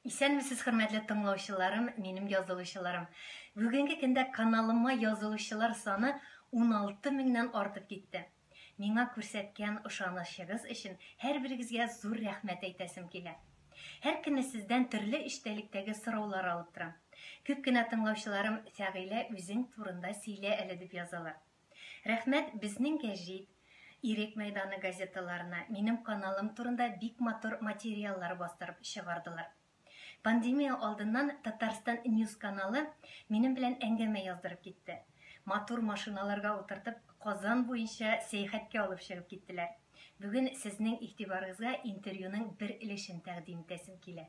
Исәнмесез хөрмәтле тыңлаучыларым, минем язылучыларым. Бүгенге көндә каналыма язылучылар саны 16 меңнән артып китте. Миңа күрсәткән ышанычыгыз өчен һәрберегезгә зур рәхмәт әйтәсем килә. Һәркемне сездән төрле эчтәлектәге сораулар алып торам. Күп кенә тыңлаучыларым Фәгыйлә үзең турында сөйлә әле дип язалар. Рәхмәт безнең гәҗит, Ирек мәйданы газеталарына минем каналым турында бик матур материаллар бастырып чыгардылар. Пандемия алдыннан Татарстан News каналы минем белән әңгәмә яздырып китте. Матур машиналарга утыртып Казан буенча сәяхәткә алып чыгып киттеләр. Бүген сезнең игътибарыгызга интервьюның бер өлешен тәкъдим итәсем килә.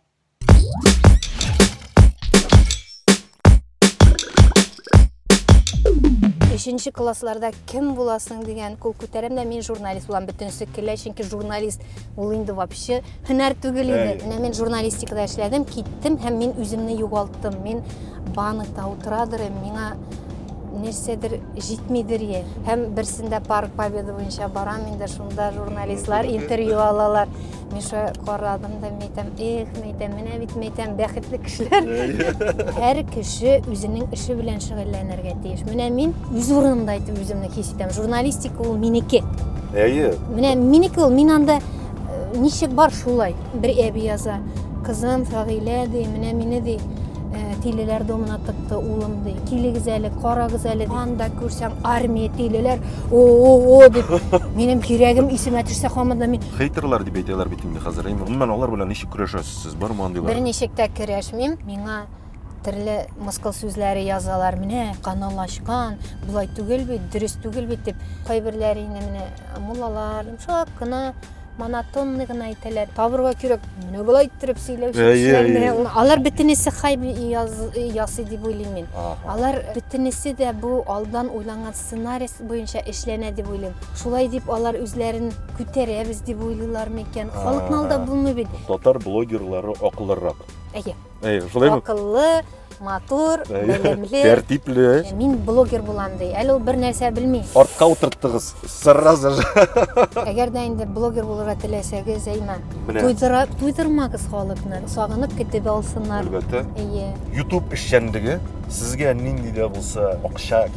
Өченче классларда кем буласың дигән кул күтәрәм дә мин журналист булам бөтенесе көлә чөнки журналист ул инде вообще һөнәр түгел иде менә мин журналистикада эшләдем киттем һәм мин үземне югалттым мин банкта утырадыр идем миңа нәрсәдер җитмидер е һәм берсендә парк победы буенча барам инде шунда журналистлар интервью алалар Миша карадым да мәйтәм, эх, мәйтәм, менә бит мәйтәм, бәхетле кешеләр. Һәр кеше үзенең эше белән шөгыльләнергә тиеш. Менә мин үз урынымда итеп үземне хис итәм. Журналистика ул минеке. Әйе. Менә минеке ул, мин анда э, ничек бар шулай. Бер әби яза, кызым Фагилә ди, менә мине ди, э, тилеләр домына тыкты улым ди. Килегез әле, карагыз әле ди. Анда күрсәң армия тилеләр, о-о-о дип. Минем кирәгем исемә төшсә хамыда мин Хейтерлар дип әйтәләр бит инде хәзер. Инде гомумән алар белән ничек көрәшәсез сез? Бармы андыйлар? Берничек тә керәшмим. Миңа төрле мыскыл сүзләре язалар. Менә канал ачкан, болай түгел бит, дөрес түгел бит дип. Кайберләре инде менә муллалар йомшак кына монотонный гына әйтәләр. Табырга кирәк, менә болай иттереп сөйләүче Әйе, кешеләрне. әйе. Алар бөтенесе хайп яз- ясый дип уйлыйм мин. Ага. Алар бөтенесе дә бу алдан уйланган сценарист буенча эшләнә дип уйлыйм. Шулай дип алар үзләрен күтәрәбез дип уйлыйлар микән? Халыкны алдап булмый бит. Татар блогерлары акыллырак. Әйе. Әйе, шулай бит. Акыллы, матур, белемле. Тәртипле. Мин блогер булам ди. Әле ул бер нәрсә белми. Артка утырттыгыз. Сразу же. Әгәр дә инде блогер булырга теләсәгез, әйма. Туйдыра, туйдырмагыз халыкны. Сагынып көтеп алсыннар. Әлбәттә. Әйе. YouTube эшчәнлеге сезгә нинди дә булса акча